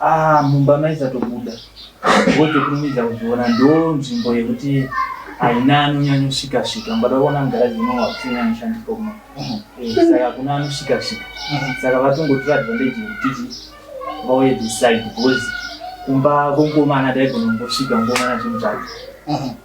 Ah, mumba maisatobuda ngozi kurumidza kuzviona ndo nzvimbo yekuti haina anonyanya kusvika svika mbada kuona mugaraji uno wakusina anoshandiswa kuno mhm. eh, saka hakuna anosvika svika mhm. saka vatongotora advantage yekutiti vauye this side because kumba kwenkomana daigona kungosvika ngomana zvimutsvaka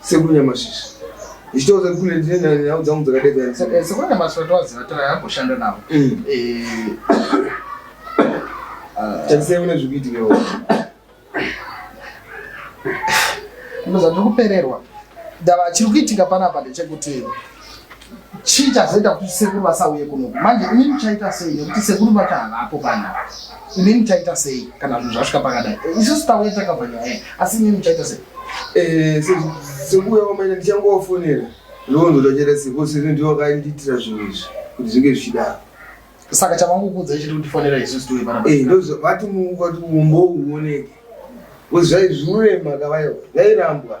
Sekuru Nyamasvisva ndichitaura kuti kune ndine nhau dzangu dzakadedzana saka eh, sekuru Nyamasvisva tovaziva tira yamboshanda navo mm. eh, ah. tarisai mune zviri kuitikewo ndozvandiri kupererwa ndava chiri kuitika panapa ndechekuti chii chazoita kuti sekuru vasauye kunoku manje ini muchaita sei nekuti sekuru vacho havapo pana ini muchaita sei kana zvinhu zvasvika pakadai eh, isusu tauya takabva nyaya iyi asi ini muchaita sei eh, sekuuya kwamaita ndichangowafonera ndovonzo tachera sekuo sekuti ndivo vakandiitira zvinhu izvi kuti zvinge zvichidaro saka chavangokuudza ichiti kutifonera isusu tiuye pana eh, vati mumbo uoneke kuti zvaizviurema kavayo zvairambwa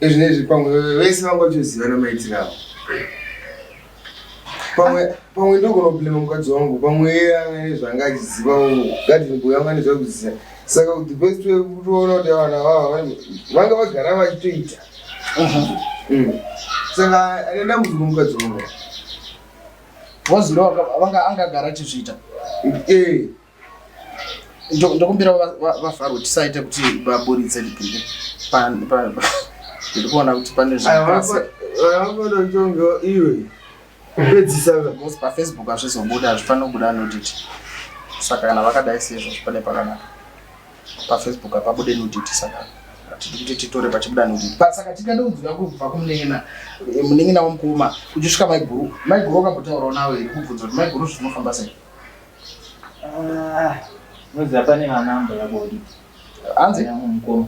Ezvinezvi pamwe vese vangotozivana maitiro avo. Pamwe pamwe ndogona kublema mukadzi wangu pamwe iye anga nezvanga achiziva wangu gadini boy anga nezvakuziva saka the best way kutoona kuti vana vava vanga vagara vachitoita mm. saka ane dambudziko mukadzi wangu wazira vanga angagara achizviita ee eh. ndokumbira vafaro kuti saite kuti vaburitse ndipinde ndiri kuona kuti pane zviaaononjongo iwe pedzisa because pafacebook hazvizobuda hazvifanira kubuda anoditi saka kana vakadai sezvo zvipane pakanaka pafacebook apabude nuditi saka hatidi kuti titore pachibuda nuditi but saka tikada kunzwira kubva kumunengina eh, munengina wamukoma uchisvika maiguru maiguru wakambotaurawo nawo here kubvunza kuti maiguru zvinofamba sei Ah, moziva pane vana amba yabodi hanzi mukoma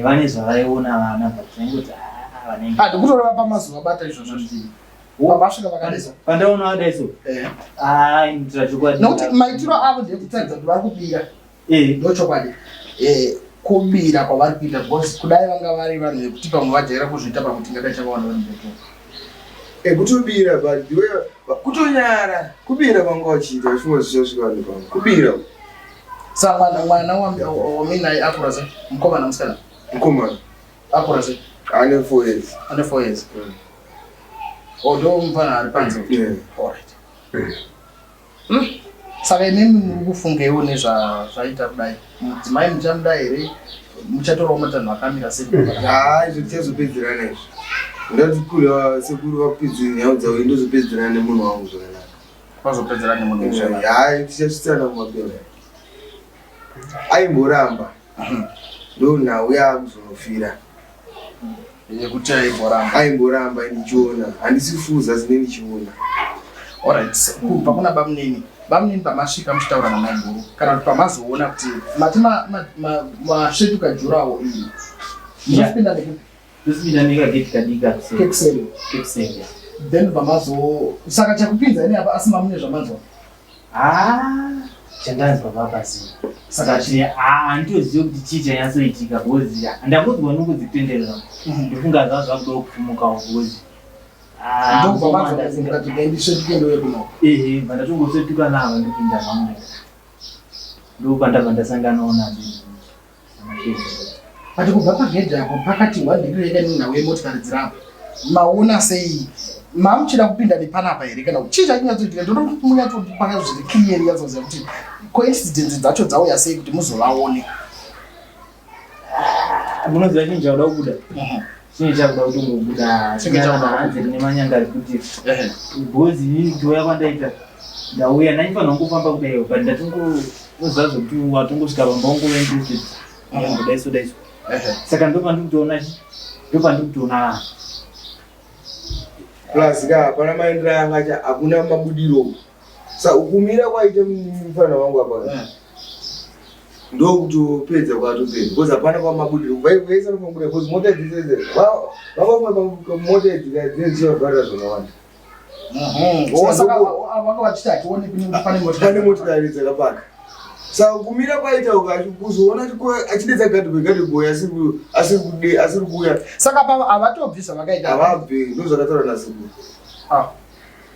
vane zvavaiona vana bataingoti ah, vanenge ah, ndikutoreva pamazuva bata izvozvo zviii vasvika vakanesa pandaona vadaiso eh. ah, nokuti maitiro avo ndekutadza kuti vari kubira Eh, ndochokwadi. Eh, kubira kwavari kuita because kudai vanga vari vanhu vekuti pamwe vajaira kuzviita pamwe tingadai tavaona vari mbepo. Eh, kutobira but iwe kutonyara kubira vanga vachiita zvimwe zvichasvika vanhu pamwe. Kubira. Sa mwana mwana waminaye akura sei? Mukomana musikana? Mukomana. Akura sei? Ane 4 years. Ane 4 years. Mm. Odo oh, mfana ari panze. Yeah. All right. Mm. Hmm. Saka imimi muri kufungeiwo nezvazvaita kudai mudzimai muchamuda here muchatorawo matanho akamira sei? Haa izvo tichazopedzerana izvo ndati kule sekuru vakupedzi nhau dzavo indozopedzerana nemunhu wangu zvakanaka vazopedzerana nemunhu haa tichasvitsana kumapera aimboramba ndo nhau yaakuzonofira yekuti aimboramba aimboramba ndichiona handisi fuza zine ndichiona alright kubva kuna bamunini bamunini pamasvika muchitaura namaiguru kana kuti pamazoona kuti mati masvetuka jurawo iyi mapinda nekupi tosipinda nekageti kadika kekuseni then pamazo saka chakupinza ine apa asi mamune zvamanzwa Ah, chandanzwa baba zii. Saka chine ah ndioziyo kuti chii chanyatsoitika because ah, ndangodzwa nokudzitenderera. Ndofunga zva zvakuda kufumuka because ah Ndobva mukoma vanzwa ndasinga- kuti dai ndisvetuke ndouye kuno. ehe vandatongosetuka navo ndopinda zvangu ndopandabva ndasanganawo nazvo But kubva pagedhi apo pakati hwandiri rega nenhau yemotikari dziri apa maona sei mamuchida kupinda nepanapa here kana kuti chii chachinyatsoitika ndoda kuti munyatsopanga zviri clear nyatsoziva kuti coincidence dzacho dzauya sei kuti muzovaone munoziva chinhu chakuda kubuda mhm. chii chakuda kutongobuda hanzi kune manyanga ekuti bhozi inini kuuya kwandaita ndauya ndaifanira kungofamba kudaiwo but ndatongoziva zvekuti watongosvika pamba ungove interested akambodaiso daiso saka ndopandikutoona ndopandikutoona plus ka hapana maendero anga hakuna mabudiro Saka kumira kwaita mufana wangu apa eh. ndokutopedza kwatopedza because hapana kwamabudiro vaivesa nofambuda because mota dzese vavamwe mota dzinezivavharira zvakawanda pane motikari dzakapaka saka kumira kwaita ukachi kuzoona achidedza gadhibwe gadhibwe asiri kuuya saka pavo havatobvi zvavakaita havabvi ndozvakataura nasikuru ah.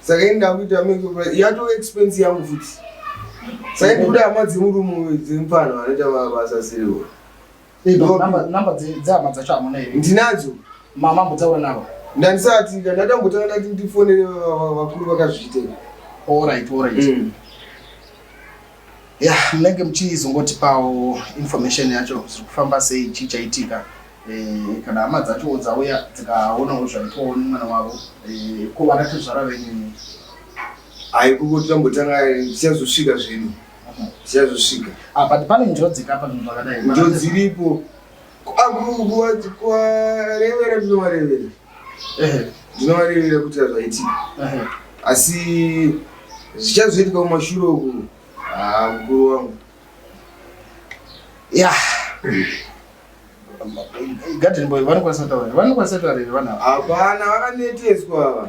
saka ini ndakuita make yatove expense yangu futi saka ini kuda hama dzemurume dzemupfanha vanoita mabasa asiriwo namba dzehama dzacho hamuna here ndinadzo mama mbotsaura navo ndandisati ka ndatambotanga ndati ndifonere vakuru vakazviita orit orit mm. ya yeah, munenge muchizongotipawo information yacho zviri kufamba sei chii chaitika eh, kana hama dzacho dzauya dzikaonawo zvaitwawo nemwana wavo eh, ko vana tezvara venyu hai kungoti tambotanga zvichazosvika zvedu zvichazosvika ah, but pane njodzi kapa zvinhu zvakadai njodzi iripo akukuwarevera ndinowarevera ndinovarevera kuti hazvaitika asi zvichazoitika kumashure uku ah, mukuru wangu ya gadeni boy vanokwanisa kutaura vanokwanisa kutaura here vanhu hapana vakaneteswa ava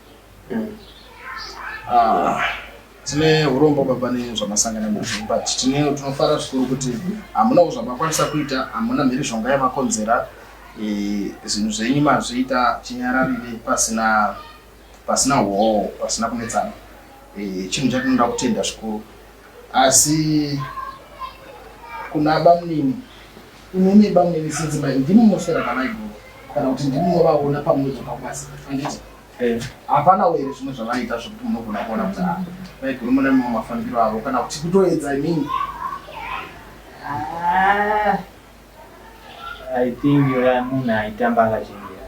Ah, tine urombo baba nezvamasangana nazvo but tine tinofara zvikuru kuti hamunawo zvamakwanisa kuita hamuna mhirizhonga yamakonzera eh, zvinhu zvenyu mazviita chinyararire pasina pasina hoo pasina kunetsana eh, chinhu chatinoda kutenda zvikuru asi kuna bamunini Imi mimba mune sedzimayi ndimi munoswera namaiguru kana kuti ndimi munovaona pamwe zvepabasa anditi eh, hapana uye zvimwe zvavaiita zvekuti munogona kuona kuti ah, maiguru mune mamwe mafambiro avo kana kuti kutoedza imini ah, I think yoya munhu aitamba akachengera